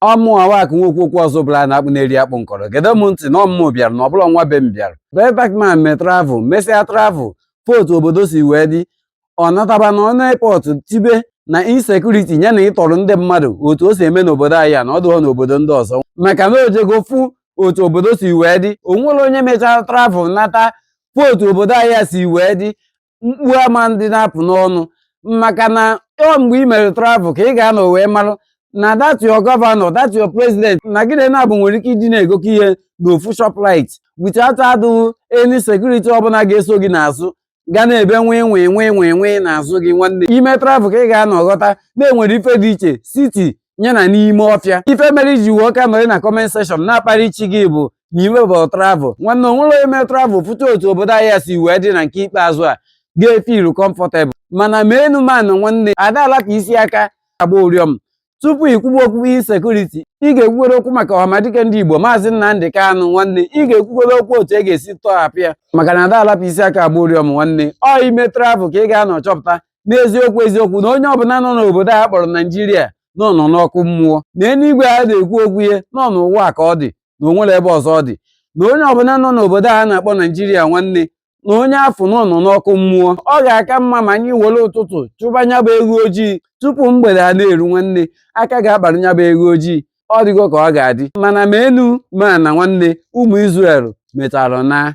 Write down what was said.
ọmụ awak nwokwu okwu ọzọ bụla a na-akpụ na-eri akpụ nkọrọ gede m ntị na ọ mụ bịara na ọbụla nwa be m bịara bee bakman me travel mesịa travel fụ otu obodo si wee dị ọ nataba na ọnụ airport tibe na insecurity ya na ịtọrọ ndị mmadụ otu o si eme n'obodo anyị a na ọ dịghọ n'obodo ndị ọzọ maka na o jego fụ otu obodo si wee dị o nwere onye mechara travel nata fụ otu obodo anyị a si wee dị mkpu ama ndị na-apụ n'ọnụ maka na ọ mgbe ị mere travel ka ị ga-anọ wee marụ na that your governor that your president na gị na nya abụọ nwere ike ịdị na-egokọ ihe n'ofu shoprite without adụghị any security ọbụla ga-eso gị n'azụ ga na-ebe nwee nwee nwee nwee nwee n'azụ gị nwanne ị mee travel ka ị ga-anọ ghọta na e nwere ife dị iche city nya na n'ime ọfịa ife mere i ji wee ka nọrị na comment section na-akparị chi gị bụ na i mebọ travel nwanne o nwere onye mee travel fụta otu obodo anyị si wee dị na nke ikpeazụ a ga-efilu comfortable mana ma enu ma ana nwanne a da alapụ isi aka agba ụrịọm tupu ikwuba okwu insecurity ị ga-ekwugodo okwu maka ọhamadike ndị igbo maazị nnamdị kanụ nwanne ị ga-ekwugodo okwu otu a ga-esi tọhapụ ya maka na a da alapụ isi aka agba ụrịọm nwanne ọ i mee travel ka ị ga-anọ chọpụta n'eziokwu eziokwu na onye ọbụla nọ n'obodo a kpọrọ naijiria nọ nọ n'ọkụ mmụọ na eluigwe a na-ekwu okwu ya na ọ n'ụwa ka ọ dị na o nwere ebe ọzọ ọ dị na onye ọbụla nọ n'obodo a na-akpọ naijiria nwanne na onye afụ nọ nọ n'ọkụ mmụọ ọ ga-aka mma ma anyị were ụtụtụ chụba nya bụ eghu ojii tupu mgbede a na-eru nwanne aka ga-akpara nya bụ eghu ojii ọ dịgo ka ọ ga-adị mana ma enu ma ana nwanne ụmụ Izrel metara na